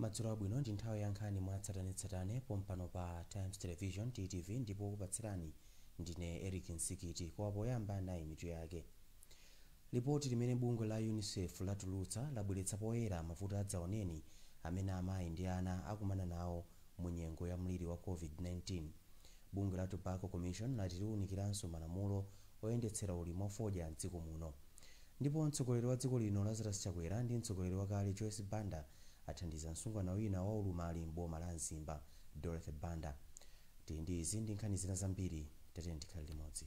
madzulo abwino ndi nthawi ya nkhani mwa tsatanetsatane pompano pa times television ttv ndipo kupatsirani ndine eric nsikiti koma poyamba nayi mitu yake Lipoti limene bungwe la unicef latulutsa labweretsa poyera mavuto adzaoneni amene amayi ndi ana akumana nawo mu nyengo ya mliri wa COVID-19. Bungwe la Tobacco Commission lati liwunikiranso malamulo oyendetsera ulimi wa fodya m'dziko muno. Ndipo mtsogoleri wa dziko lino Lazarus Chakwera ndi mtsogoleri wakale Joyce Banda athandiza msungwana wina wa ulumali m'boma la Mzimba, Dorothy Banda. Tili ndi izi ndi nkhani zina zambiri, tiyeni tikhale limodzi.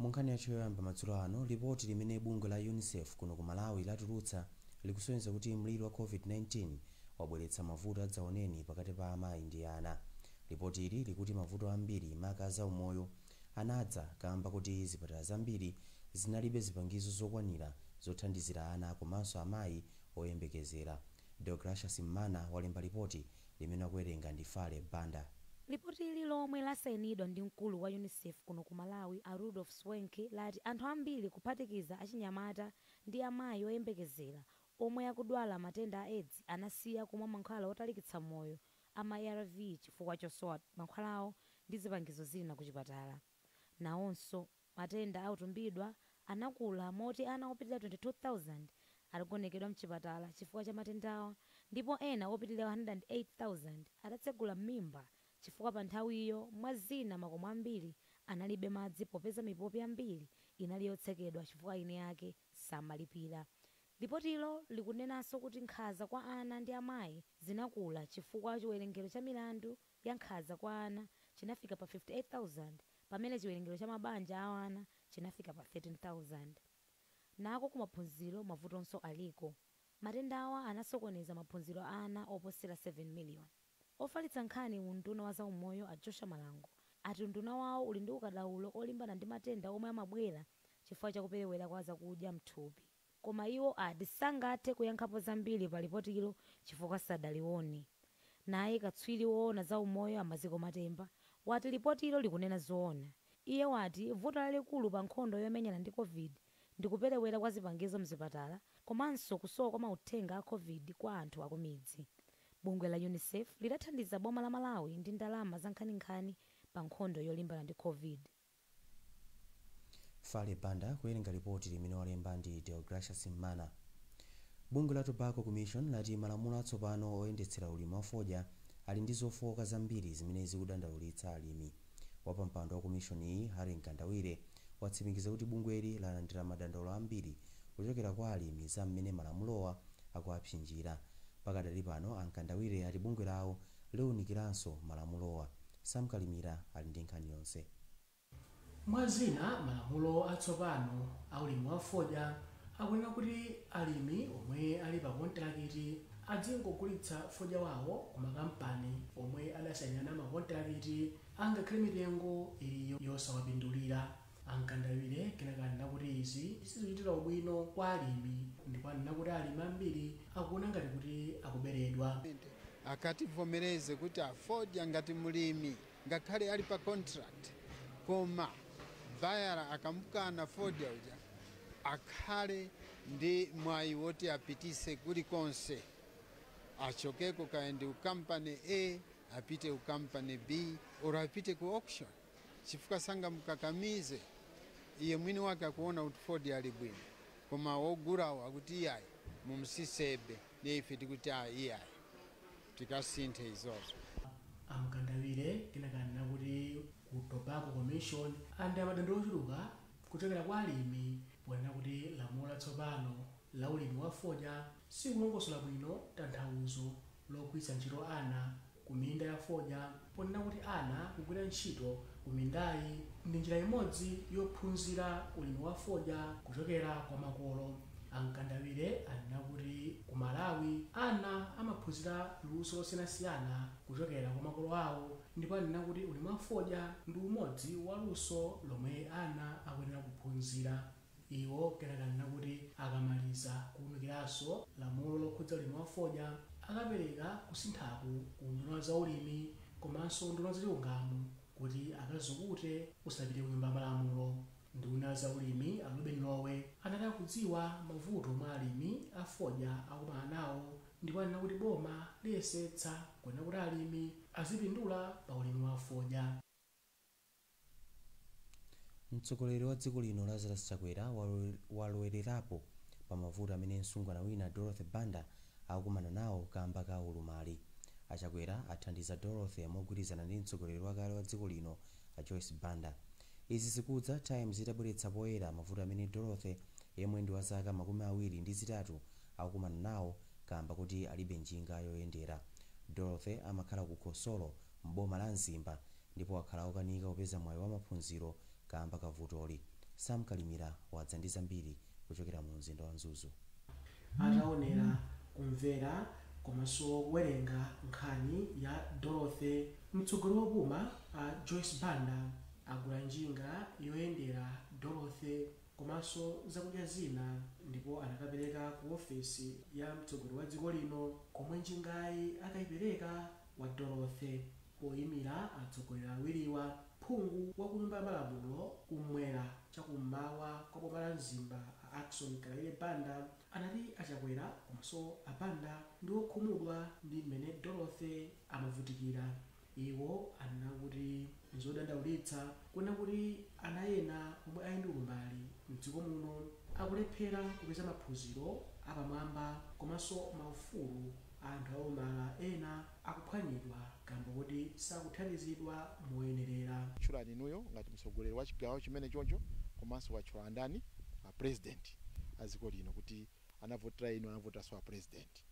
Munkhani yathu yoyamba madzulo ano, lipoti limene bungwe la Unicef kuno ku Malawi latulutsa likusonyeza kuti mliri wa COVID-19 wabweretsa mavuto adzaoneni pakati pa amayi ndi ana. Lipotili likuti mavuto ambiri, maka a zaumoyo, anadza kaamba koti zipatala zambiri zinalibe zipangizo zokwanira zothandizira ana komanso amayi oyembekezera. Deogratias Mmana walemba lipoti limene akuwerenga ndi Fale Banda. Lipotili lomwe lasainidwa ndi mkulu wa Unicef kuno ku Malawi a Rudolf Schwenk lati anthu ambiri kuphatikiza achinyamata ndi amayi oyembekezera omwe akudwala matenda a Edzi anasiya kumwa mankhwala otalikitsa moyo a ma arv chifukwa chosowa mankhwalawo ndi zipangizo zina kuchipatala. Nawonso. Matenda a kutumbidwa anakula moti ana opitirira 22,000 adagonekedwa mchipatala chifukwa cha matendawa ndipo ena opitirira 108,000 adatsegula m'mimba chifukwa panthawiyo mwa zina makomo ambiri analibe madzi popeza mipopi yambiri inali yotsekedwa chifukwa eni ake samalipira. Lipotilo likunenanso kuti nkhanza kwa ana ndi amayi zinakula chifukwa chiwerengero cha milandu ya nkhanza kwa ana chinafika pa 58,000 pamene chiwerengero cha mabanja a ana chinafika pa 13,000. Nako kumaphunziro mavutonso aliko. Matendawa anasokoneza maphunziro a ana oposera 7 miliyoni. Ofalitsa nkhani mu unduna wa zaumoyo a Joshua Malango ati unduna wawo uli ndi ukadaulo olimbana ndi matenda omwe amabwera chifukwa cha kuperewera kwa zakudya m'thupi. Koma iwo ati sangathe kuyankhapo zambiri pa lipotilo chifukwa sadalione. Naye katswiri woona za umoyo a Maziko Matemba wati lipotilo likunena zoona. Iye wati vuto lalikulu pa nkhondo yomenyana ndi Covid ndi kuperewera kwa zipangizo m'zipatala komanso kusowa kwa mauthenga a Covid kwa anthu akumidzi. Bungwe la Unicef lidathandiza boma la Malawi ndi ndalama zankhaninkhani pa nkhondo yolimbana ndi Covid. Farley Banda kuwerenga lipoti limene walemba ndi Deogracious Mmana. Bungwe la Tobacco Commission lati malamulo atsopano oyendetsera ulimi wa fodya ali ndi zofooka zambiri zimene zikudandaulitsa alimi. Wapampando wa komishoniyi, Harry Mkandawire, watsimikiza kuti bungweli lalandira madandaulo ambiri kuchokera kwa alimi za mmene malamulowa akuwapsinjira. Pakadali pano, a Mkandawire ati bungwe lawo liunikiranso malamulowa. Sam Kalimira ali ndi nkhani yonse. Mwa zina, malamulo atsopano a ulimi wa fodya akunena kuti alimi omwe ali pa kontilakiti adzingogulitsa fodya wawo ku makampani omwe adasainirana makontilakiti angakhale mitengo ili yosawapindulira. A Mkandawire kenaka anena kuti izi sizichitira ubwino kwa alimi ndipo anena kuti alimi ambiri akuona ngati kuti akuberedwa. Akativomereze kuti a fodya ngati mlimi ngakhale ali pa contract koma bayala akamukana fodya uja akhale ndi mwayi woti apitise kuli konse achokeko kaya ndi ku company A apite ku company B or apite ku auction. chifukwa sangamukakamize, iye mwini wake akuona kuti fodya ali bwino koma ogulawo akuti iyayi mumusisebe ndiye ife tikuti a iyayi tikasinthe izozo. A Mkandawire kenaka anena kuti ku Tobacco Commission alandira madandaulo ochuluka kuchokera kwa alimi ponena kuti lamulo latsopano la ulimi wa fodya silikulongosola bwino tanthauzo logwiritsa ntchito ana ku minda ya fodya ponena kuti ana kugwira ntchito ku mindayi ndi njira imodzi yophunzira ulimi wa fodya kuchokera kwa makolo. A Mkandawire anena kuti ku Malawi ana amaphunzira luso losiyanasiyana kuchokera kwa makolo awo ndipo anena kuti ulimi wa fodya ndi umodzi wa luso lomwe ana akuyenera kuphunzira. Iwo kenaka anena kuti akamaliza kuunikiranso lamulo lokhudza ulimi wa fodya, akapereka kusinthaku ku unduna wa zaulimi komanso unduna wa zachilungamo kuti akazukute usanapite ku nyumba ya malamulo. Nduna ya zaulimi a Lobin Lowe anati akudziwa mavuto omwe alimi a fodya akumana nawo ndipo anena kuti boma liyesetsa kuona kuti alimi azipindula pa ulimi wa fodya. Mtsogoleri wa dziko lino Lazarus Chakwera walowelerapo pa mavuto amene msungwana wina Dorothy Banda akukumana nawo kamba ka ulumali. A Chakwera athandiza Dorothy mogwirizana ndi mtsogoleri wakale wa dziko lino a Joyce Banda. Izi zikudza Times itabweretsa poyera mavuto amene Dorothy yemwe ndi wa zaka makumi awiri ndi zitatu akukumana nawo kaamba koti alibe njinga yoyendera. Dorothy amakhala ku Khosolo m'boma la Mzimba ndipo wakhala wokanika kupeza mwayi wa maphunziro kaamba ka vutoli. Sam Kalimira wadza ndi zambiri kuchokera mu mzinda wa Mzuzu. Ataonera, kumvera komanso kuwerenga nkhani ya Dorothy, mtsogoleri wopuma a Joyce Banda agula njinga yoyendera Dorothy komanso zakudya zina ndipo anakapereka ku ofesi ya mtsogoleri wa dziko lino komwe njingayi akaipereka. kwa Dorothy poimira atsogoleri awiriwa, phungu wa ku nyumba ya malamulo kumwera cha kummawa kwa boma la Mzimba a Ackson Kalaile Banda anati a Chakwera komanso a Banda ndi okhumudwa ndi mmene Dorothy amavutikira. Iwo anena kuti n'zodandaulitsa kuona kuti ana ena omwe ali ndi ulumali m'dziko muno akulephera kupeza maphunziro apamwamba komanso maufulu. Anthu olumala ena akuphwanyidwa kamba kuti sakuthandizidwa moyenerera. Watchula inuyo ngati mtsogoleri wa chigawo chimenechocho komanso watchula ndani a president a dziko lino kuti anavotera inu anavoteranso a president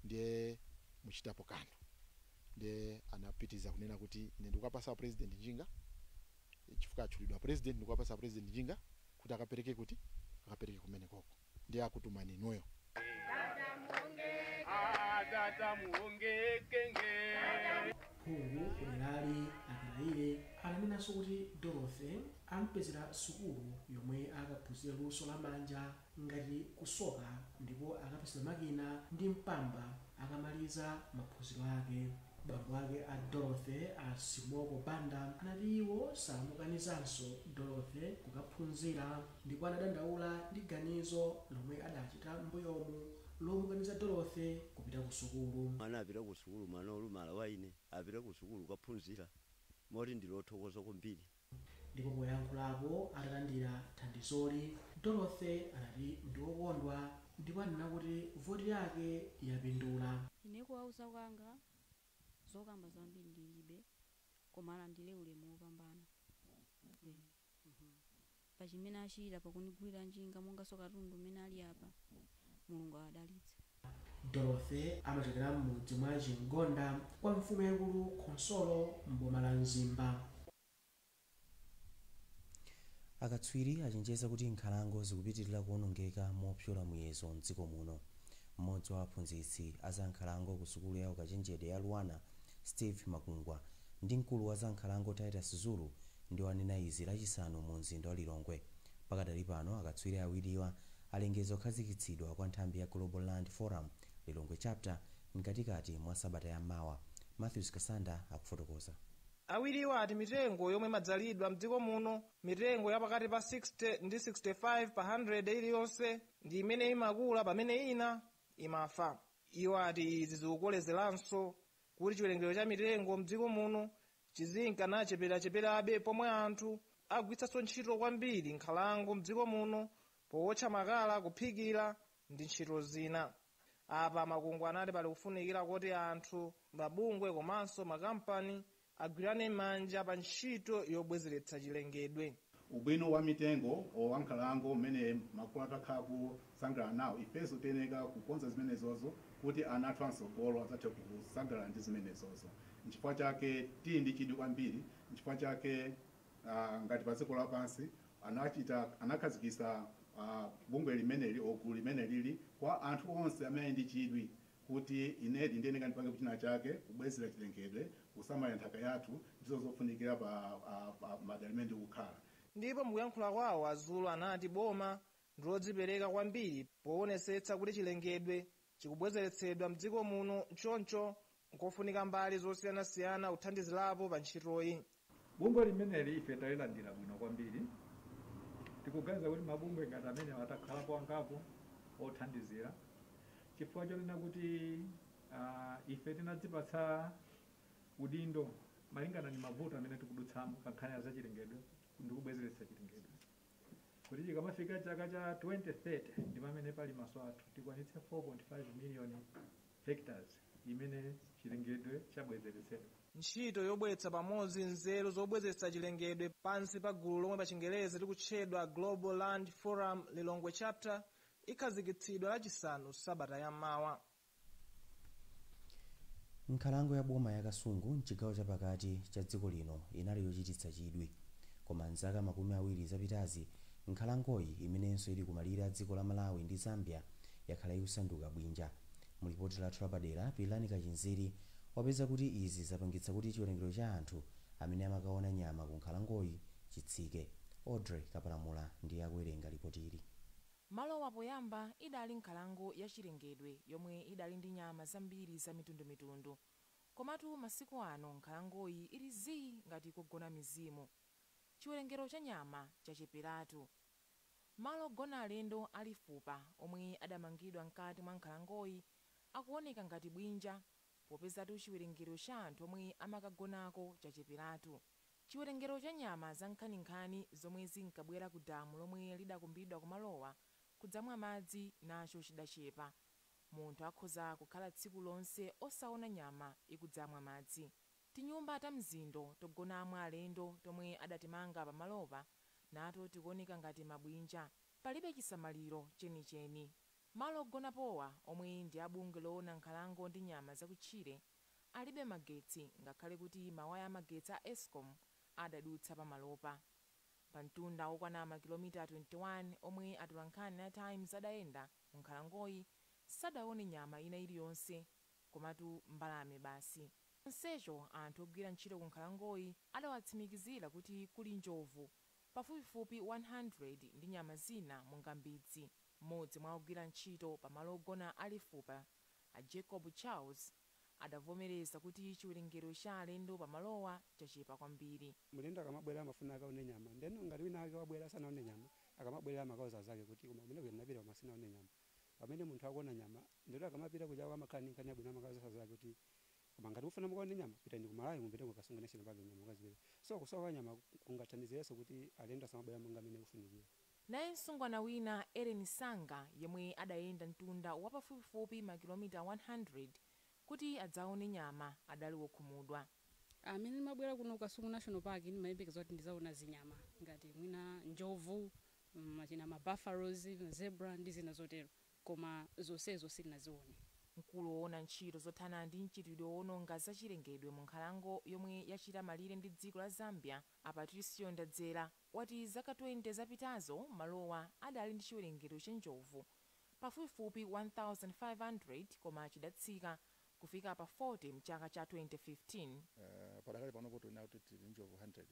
ndiye muchitapo kanthu ndiye anapitiliza kunena kuti ine ndikuwapasa a president njinga chifukwa atchulidwa a president ndikuwapasa a president njinga kuti akapereke kuti akapereke kumenekoko ndiye akutumani inuyo Adada muongeke nge. phungu kuderali a Kalaile ananenanso kuti dorothy ampezera sukulu yomwe akaphunzire luso la manja ngati kusoka ndipo akapezera makina ndi mpamba Akamaliza maphunziro ake, bambo ake a Dorothy, a Simoko Banda, anati iwo samukanizanso Dorothy kukaphunzira ndipo anadandaula ndi ganizo lomwe adachita m'mbuyomu lomukaniza Dorothy kupita ku sukulu. Mwana apita ku sukulu, mwana olumala wa ine apita ku sukulu kukaphunzira moti ndili othokoza kwambiri. Ndipo poyankhulapo atalandira thandizoli, Dorothy anati ndi wokondwa ndipo anena kuti voti yake yapindula. Ine kuwauza kwanga zokamba zambiri ndilibe koma alandire ulemu wopambana eeh pachimene achita pakundigulira njinga monganso katundu umene ali apa Mulungu awadalitse. Dorothy amachokera m'mudzi mwa Chim'gonda kwa mfumu yaikulu Khonsolo m'boma la Mzimba. Akatswiri achenjeza kuti nkhalango zikupitirira kuonongeka mopyola muyezo m'dziko muno. M'modzi wa aphunzitsi a za nkhalango ku sukulu ya ukachenjede ya Luanar, Steve Makungwa, ndi mkulu wa za nkhalango Titus Zulu ndiwo anena izi Lachisanu mu mzinda wa Lilongwe. Pakadali pano akatswiri awiriwa alengeza kukhazikitsidwa kwa nthambi ya Global Land Forum, Lilongwe Chapter, mkatikati mwa sabata ya mawa. Mathews Kasanda akufotokoza. Awiriwa ati mitengo yomwe imadzalidwa mdziko muno, mitengo ya pakati pa 60 ndi 65 pa handiredi iliyonse, ndi imene imakula pamene ina imafa. Iwo ati izi zikukolezeranso kuti chiwerengero cha mitengo m'dziko muno chizinka nacheperacheperabe pomwe anthu agwiritsanso ntchito kwambiri nkhalango m'dziko muno powotcha makala, kuphikira ndi ntchito zina. Apa a Makungwa anati pali kufunikira kuti anthu, mabungwe komanso makampani agwirane manja pa ntchito yobwezeretsa chilengedwe. Ubwino wa mitengo or wa nkhalango umene makolo athu akhala akusangalala nawo ifenso tiyeneka kukonza zimenezozo kuti ana athu amsogolo adzathe kusangalala ndi zimenezozo nchifukwa chake tili ndi chidwi kwambiri nchifukwa chake aah ngati pa dziko lapansi anakhazikitsa aah bungwe limeneli or gulu limenelili kwa anthu onse amene ali ndi chidwi kuti inedi ndiyeneka ndipangepo china chake kubwezera chilengedwe, kusamalira nthaka yathu, ndizo zofunikira pa a pa madera amene ndikukhala. Ndipo mukuyankhula kwawo a Zulu anati boma ndilodzipereka kwambiri powonesetsa kuti chilengedwe chikubwezeretsedwa mdziko muno choncho nkofunika mbali zosiyanasiyana kuthandizirapo pa ntchitoyi. Bungwe limeneli ife talilandira bwino kwambiri. Tikuganiza kuti mabungwe ngati amenewa atakhalapo angapo othandizira chifukwa chonena kuti ife tinadzipatsa udindo malingana ndi mavuto amene tikudutsamo pa nkhani ya zachilengedwe ndi kubwezeretsa chilengedwe, kuti chikamafika chaka cha 2030 ndi pamene pali maso athu tikwanitse 4.5 miliyoni hectares imene chilengedwe chabwezeretsedwa. Ntchito yobweretsa pamodzi nzeru zobwezeretsa chilengedwe pansi pa gulu lomwe pa chingerezi likutchedwa Global Land Forum Lilongwe Chapter ikhazikitsidwa lachisanu sabata ya mawa. Nkhalango ya boma ya Kasungu m'chigawo cha pakati cha dziko lino inali yochititsa chidwi. Koma m'zaka makumi awiri zapitazi, Nkhalangoyi, imenenso ili kumalire a dziko la Malawi ndi Zambia, yakhala ikusanduka bwinja. Mu lipoti lathu lapadera, Pilirani Kachinziri wapeza kuti izi zapangitsa kuti chiwerengero cha anthu amene amakaona nyama ku nkhalangoyi chitsike. Audrey Kapalamula ndiye akuwerenga lipotili. Malowa poyamba idali nkhalango ya chilengedwe yomwe idali ndi nyama zambiri za mitundumitundu. Komatu masiku ano nkhalangoyi ili zii ngati kogona mizimu. chiwerengero cha nyama chacheperatu. Malo ogona alendo a Lifupa omwe adamangidwa mkati mwa nkhalangoyi akuoneka ngati bwinja popezatu chiwerengero cha anthu omwe amakagonako chacheperatu. Chiwerengero cha nyama zankhaninkhani zomwe zinkabwera ku damu lomwe lidakumbidwa ku malowa kudzamwa madzi nacho chidachepa. Munthu akhoza kukhala tsiku lonse osaona nyama ikudzamwa madzi. Tinyumba ta mzindo togonamo alendo tomwe adatimanga pamalopa nato tikuoneka ngati mabwinja. Palibe chisamaliro chenicheni. Malo ogonapowa, omwe ndi a bungwe loona nkhalango ndi nyama zakutchire, alibe magetsi ngakhale kuti mawaya amagetsi a Escom adadutsa pamalopa. Pamtunda wokwana makilomita 21 omwe atolankhani a Times adayenda m'nkhalangoyi, sadaone nyama ina iliyonse koma timbalame basi. chonsecho anthu ogwira ntchito ku nkhalangoyi adawatsimikizira kuti kuli njovu pafupifupi 100 ndi nyama zina monga mbidzi. Mmodzi mwa ogwira ntchito pa malo ogona a Lifupa, a Jacob Charles, adavomereza kuti chiwerengero cha alendo pa malowa chachepa kwambiri. Mlendo akamabwera amafuna akaone nyama. Ndeno ngati winawake wabwera sanaone nyama, akamabwerera amakauza anzake kuti, koma kumeneko ndinapita koma sindinaone nyama. Pamene munthu akuona nyama, ndioti akamapita kujako amakhala ndi nkhani yabwino, amakauza anzake kuti koma ngati mufuna mukaone nyama, pitani ku Malawi mupite ku Kasungu National Park nyama mukazipeza. So kusowa kwa nyama kungathandizirenso kuti alendo asamabwere monga mmene ikufunikira. Naye msungwana wina, Ellen Sanga, yemwe adayenda mtunda wa pafupifupi makilomita 100 kuti adzaone nyama, adali wokhumudwa. Mmene ndimabwera kuno ku Kasungu National Park ndimayembekeza kuti ndidzaona zinyama ngati mwina njovu, mwina ma buffaloes, ma zebra ndi zina zotero koma zonsezo sindinazione. Mkulu owona ntchito zothana ndi mchitidwe woononga za chilengedwe mu nkhalango yomwe yachita malire ndi dziko la Zambia, a Patricio Ndadzera, wati zaka 20 zapitazo malowa adali ndi chiwerengero cha njovu pafupifupi 1,500 koma chidatsika kufika pa 40 mchaka cha 2015. Padakali panopo tikunena kuti tili ndi njovu 100.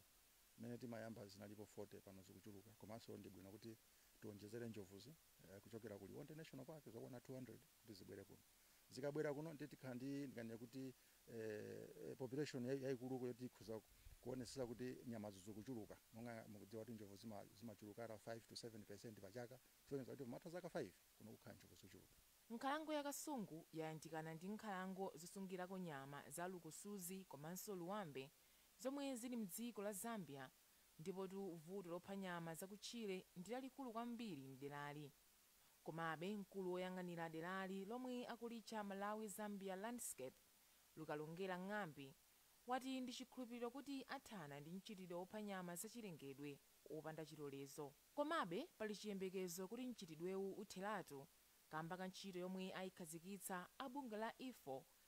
Mmene timayamba zinalipo 40 pano zikuchuluka komanso ndi bwino kuti tionjezere njovuzi kuchokera ku Liwonde National Park zokwana 200 kuti zibwere kuno. Zikabwera kuno ndiye tikhala ndi ndinganene kuti population yaikuluko yoti ikhoza kuonetsetsa kuti nyamazo zikuchuluka. Monga mukudziwa kuti njovu zimachuluka at 5 to 7 percent pa chaka kusonyeza kuti pomatha zaka 5 kuno kukhala njovu zochuluka. Nkhalango ya Kasungu yayandikana ndi nkhalango zosungirako nyama za Lukusuzi komanso Luwambe. zomwe zili m'dziko la Zambia. Ndipotu vuto lopha nyama zakutchire ndi lalikulu kwambiri m'derali. Komabe, mkulu woyang'anira derali, lomwe akulitcha Malawi-Zambia Landscape, Lukalongera Ng'ambi, wati ndi chikhulupiriro kuti athana ndi mchitidwe wopha nyama zachilengedwe wopanda chilolezo. Komabe, pali chiyembekezo kuti mchitidwewu utheratu kaamba ka ntchito yomwe aikhazikitsa a bungwe la IFAW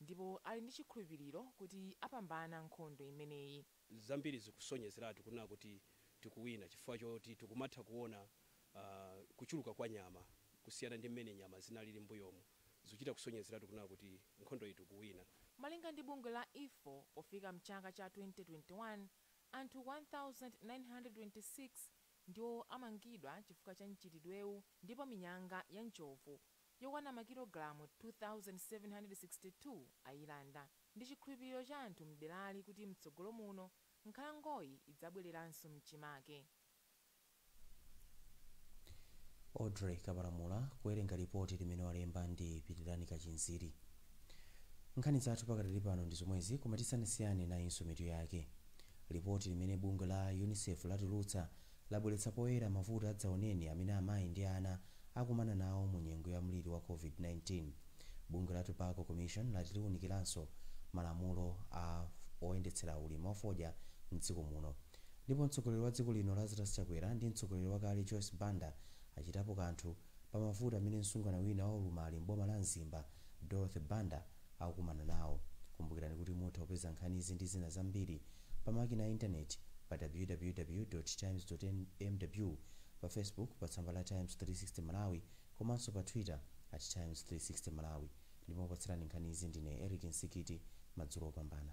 ndipo ali ndi chikhulupiriro kuti apambana nkhondo imeneyi. Zambiri zikusonyezeratu kunena kuti tikuwina chifukwa choti tikumatha kuona kuchuluka kwa nyama kusiyana ndi mmene nyama zinalili m'mbuyomu. Zikuchita kusonyezeratu kunena kuti nkhondoyi tikuwina. Malinga ndi bungwe la IFAW, pofika m'chaka cha 2021, anthu 1,926 ndiwo amangidwa chifukwa cha mchitidwewu ndipo minyanga ya njovu yokwana makilogalamu 2,762 ayilanda. Ndi chikhulupiriro cha anthu m'derali kuti mtsogolo muno nkhalangoyi idzabwereranso m'chimake. Audrey Kapalamula kuwerenga lipoti limene walemba ndi Pitirani Kachinziri. Nkhani zathu pakadali pano ndi zomwezi koma tisanasiyane nayinso mitu yake. Lipoti limene bungwe la Unicef latulutsa labweretsa poyera mavuto adzaoneni amene amayi ndi ana akumana nawo mu nyengo ya mliri wa COVID-19. Bungwe la Tobacco Commission lati liunikiranso malamulo a oyendetsera ulimi wa fodya m'dziko muno. Ndipo mtsogoleri wa dziko lino Lazarus Chakwera ndi mtsogoleri wakale Joyce Banda achitapo kanthu. pa mavuto amene msungwana wina wa ulumali m'boma la Mzimba, Dorothy Banda, akukumana nawo. Kumbukirani kuti mutha kupeza nkhanizi ndi zina zambiri pa makina a intaneti pa www.times.mw, pa Facebook pa tsamba la Times 360 Malawi komanso pa Twitter at Times 360 Malawi. Ndipo okupatsirani nkhanizi ndine Eric Msikiti. Madzulo opambana.